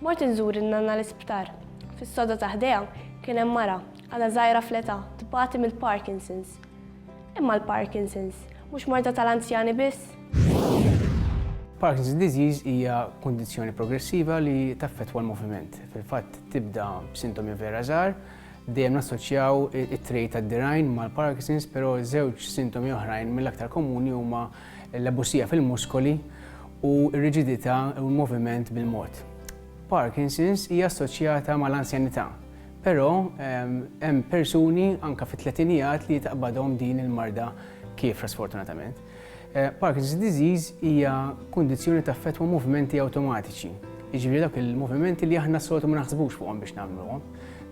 Mort inżur in-nanna l-isptar. Fis-sodda ta' ħdejha kien hemm mara, għadha żgħira fl-età, tbati mill-Parkinson's. Imma l-Parkinson's, mhux morda tal-anzjani biss? Parkinson's disease hija kundizzjoni progressiva li taffettwa l-moviment. Fil-fatt tibda b'sintomi vera żgħar, dejjem nassoċjaw it-trejt tad-dirgħajn mal-Parkinson's, però żewġ sintomi oħrajn mill-aktar komuni huma il-lebusija fil-muskoli u r-riġidità u l-moviment bil-mod. Parkinson's hija assoċjata mal-anzjanità, però hemm persuni anke fit-tletinijat li taqbadhom din il-marda kiefra sfortunatament. Parkinson's disease hija kundizzjoni li taffettwa movimenti awtomatiċi, jiġifieri dawk il-movimenti li aħna s-soltu ma naħsbux fuqhom biex nagħmluhom,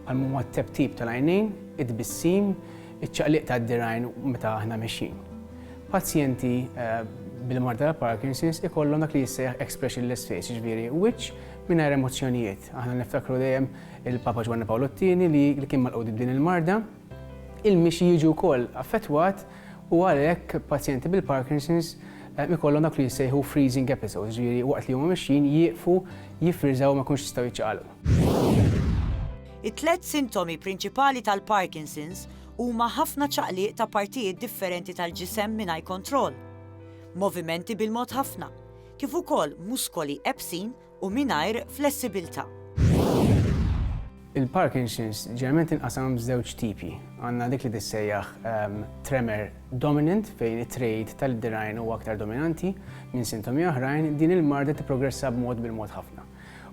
bħal huma t-teptip tal-għajnejn, it-tbissim, iċ-ċaqliq tad-dirgħajn meta aħna mexjin. Pazjenti bil-mard ta' Parkinson's ikollhom dak li jissejjaħ expressionless face, jiġifieri wiċċ mingħajr emozzjonijiet. Aħna niftakru dejjem il-Papa Ġwanni Pawl it-Tieni li kien malqut b'din il-marda. Il-mixi jiġu wkoll affettwat u għalhekk pazjenti bil-Parkinson's ikollhom dak li jissejħu freezing episodes, jiġifieri waqt li huma mixjin jieqfu, jiffriżaw u ma jkunx jistgħu jiċċaqalqu. It-tliet sintomi prinċipali tal-Parkinson's huma ħafna ċaqliq ta' partijiet differenti tal-ġisem mingħajr kontroll, movimenti bil-mod ħafna, kif ukoll muskoli ebsin u mingħajr flessibilità. Il-Parkinson's ġeneralment tinqasam f'żewġ tipi. Għandna dik li tissejjaħ tremor dominant fejn it-trejd tal-dirgħajn huwa aktar dominanti minn sintomi oħrajn, din il-marda tipprogressa b'mod bil-mod ħafna.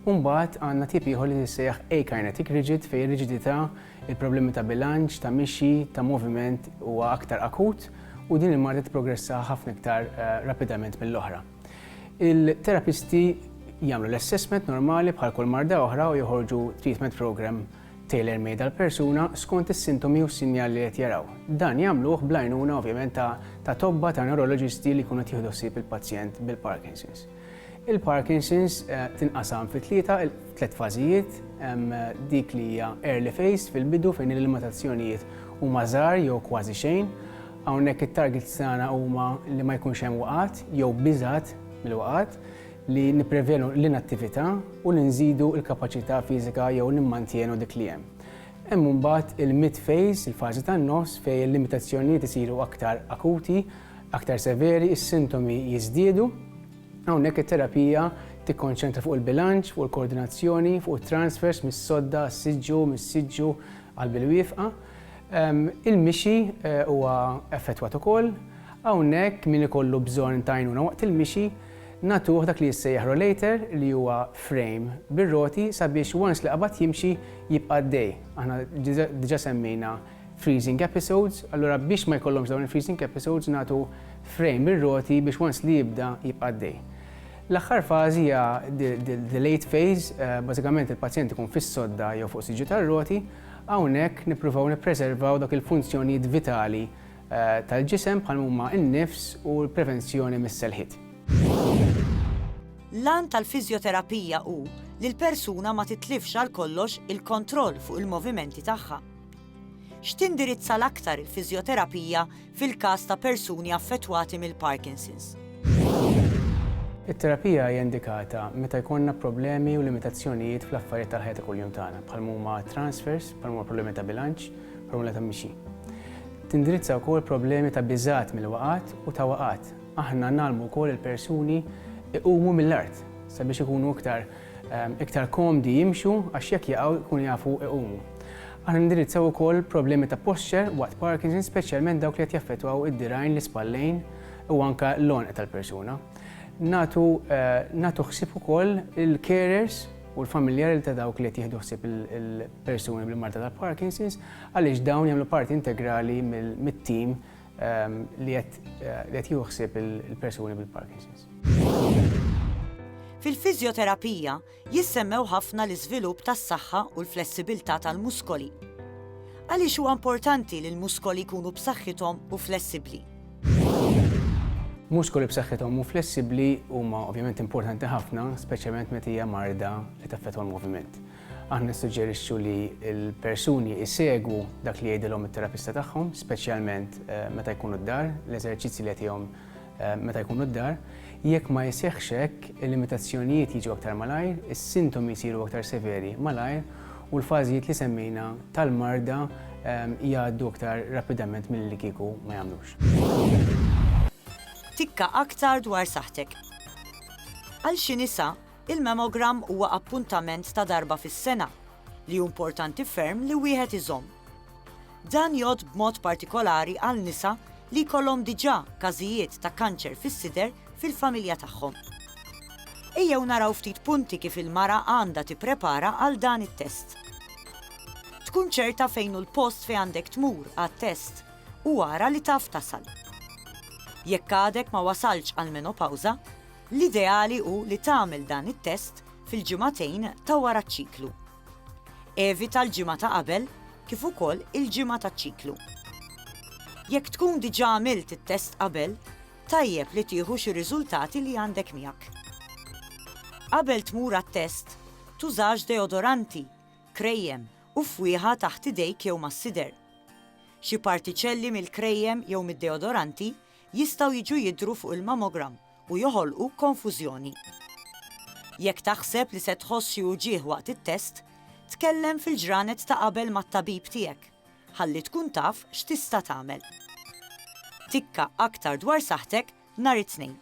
Umbagħad għandna tip ieħor li tissejjaħ akinetic rigid fejn ir-riġidità Il-problemi ta' bilanċ, ta' mixi, ta' moviment huwa aktar akut u din il-marda tipprogressa ħafna iktar rapidament mill-oħra. Il-terapisti jagħmlu l-assessment normali bħal kull marda oħra u joħorġu treatment programme tailor-made għall-persuna skont is-sintomi u s-sinjal li qed jaraw. Dan jagħmluh bl-għajnuna ovvjament ta' tobba, ta' newroloġisti li jkunu qed jieħdu ħsieb il-pazjent bil-Parkinson's. Il-Parkinson's tinqasam fi tlieta, tliet fażijiet, dik li hija early phase fil-bidu fejn il-limitazzjonijiet huma żgħar jew kważi xejn. Hawnhekk it-targets tagħna huma li ma jkunx hemm waqgħat jew biżgħat mill-waqgħat, li nipprevjenu l-inattività u li nżidu l-kapaċità fiżika jew nimmantienu dik li hemm. Hemm imbagħad il-mid phase, il-fażi tan-nofs, fejn il-limitazzjonijiet isiru aktar akuti, Aktar severi, is-sintomi jiżdiedu. Hawnhekk it-terapija tikkonċentra fuq il-bilanċ, fuq il-koordinazzjoni, fuq it-transfers mis-sodda għas-siġġu, mis-siġġu għall-bilwieqfa. Il-mixi huwa effettwat ukoll. Hawnhekk min ikollu bżonn ta' għajnuna waqt il-mixi nagħtuh dak li jissejjaħ rollator li huwa frame bir-roti sabiex once li qabad jimxi jibqa' għaddej. Aħna diġà semmejna freezing episodes, allura biex ma jkollhomx dawn il-freezing episodes nagħtu frame ir-roti biex once li jibda jibqa' għaddej. L-aħħar fażi hija the late phase, eh, bażikament il-pazjent ikun fis-sodda jew fuq siġġu tar-roti, hawnhekk nippruvaw nippreservaw dak il-funzjonijiet vitali eh, tal-ġisem bħal huma n-nifs u l-prevenzjoni mis-selħit. L-għan tal-fizjoterapija hu li l-persuna ma titlifx għal kollox il-kontroll fuq il-movimenti tagħha. X'tindirizza l-aktar il-fiżjoterapija fil-każ ta' persuni affettwati mill-Parkinson's? It-terapija hija indikata meta jkollna problemi u limitazzjonijiet fl-affarijiet tal-ħajja ta' kuljum tagħna, bħal m'huma transfers, bħal m'huma problemi ta' bilanċ, problemi ta' mixi. Tindirizza wkoll problemi ta' biżgħat mill-waqgħat u ta' waqgħat. Aħna ngħallmu wkoll il-persuni iqumu mill-art sabiex ikunu iktar iktar komdi jimxu għax jekk jaqgħu jkunu jafu jqumu. Aħna nindirizzaw ukoll problemi ta' posture waqt Parkinson speċjalment dawk li qed jaffettwaw id-dirgħajn, l-ispallejn u anke l-għonq tal-persuna. Nagħtu nagħtu ħsieb ukoll il-carers u l-familjari ta' dawk li qed jieħdu ħsieb il-persuni bil-marda tal-Parkinson's għaliex dawn jagħmlu parti integrali mit-tim li qed jieħu ħsieb il-persuni bil-Parkinson's. Fil-fiżjoterapija jissemmew ħafna l-iżvilupp tas-saħħa u l-flessibilità tal-muskoli. Għaliex huwa importanti li l-muskoli jkunu b'saħħithom u flessibbli? Muskoli b'saħħithom u flessibbli huma ovvjament importanti ħafna, speċjalment meta hija marda li taffetwa l-moviment. Aħna nissuġġerixxu li l-persuni jsegwu dak li jgħidilhom it-terapista tagħhom, speċjalment meta jkunu d-dar, l-eżerċizzji li jagħtihom meta jkunu d-dar. Jekk ma jseħħx hekk, il-limitazzjonijiet jiġu aktar malajr, is-sintomi jsiru aktar severi malajr u l-fażijiet li semmejna tal-marda jgħaddu aktar rapidament milli li kieku ma jagħmlux. Tikka aktar dwar saħħtek. Għal xi nisa, Il-mammogram huwa appuntament ta' darba fis-sena li hu importanti ferm li wieħed iżomm. Dan jgħodd b'mod partikolari għal nisa li jkollhom diġà każijiet ta' kanċer fis-sider fil-familja tagħhom. Ejjew naraw ftit punti kif il-mara għandha tipprepara għal dan it-test. Tkun ċerta fejn hu l-post fejn għandek tmur għat-test u ara li taf tasal. Jekk għadek ma wasaltx għall-menopawża, L-ideali hu li tagħmel dan it-test fil-ġimagħtejn ta' wara ċ-ċiklu. Evita l-ġimgħa ta' qabel kif ukoll il-ġimgħa taċ-ċiklu. Jekk tkun diġà għamilt it-test qabel, tajjeb li tieħu xi riżultati li għandek miegħek. Qabel tmur għat-test, tużax deodoranti, krejjem u fwieħa taħt idejk jew mas-sider. Xi partiċelli mill-krejjem jew mid-deodoranti jistgħu jiġu jidhru fuq il-mammogram. u joħolqu konfużjoni. Jekk taħseb li se tħoss xi uġigħ waqt it-test, tkellem fil-ġranet ta' qabel mat-tabib tiegħek ħalli tkun taf x'tista' tagħmel. Tikka aktar dwar saħħtek nhar it-Tnejn.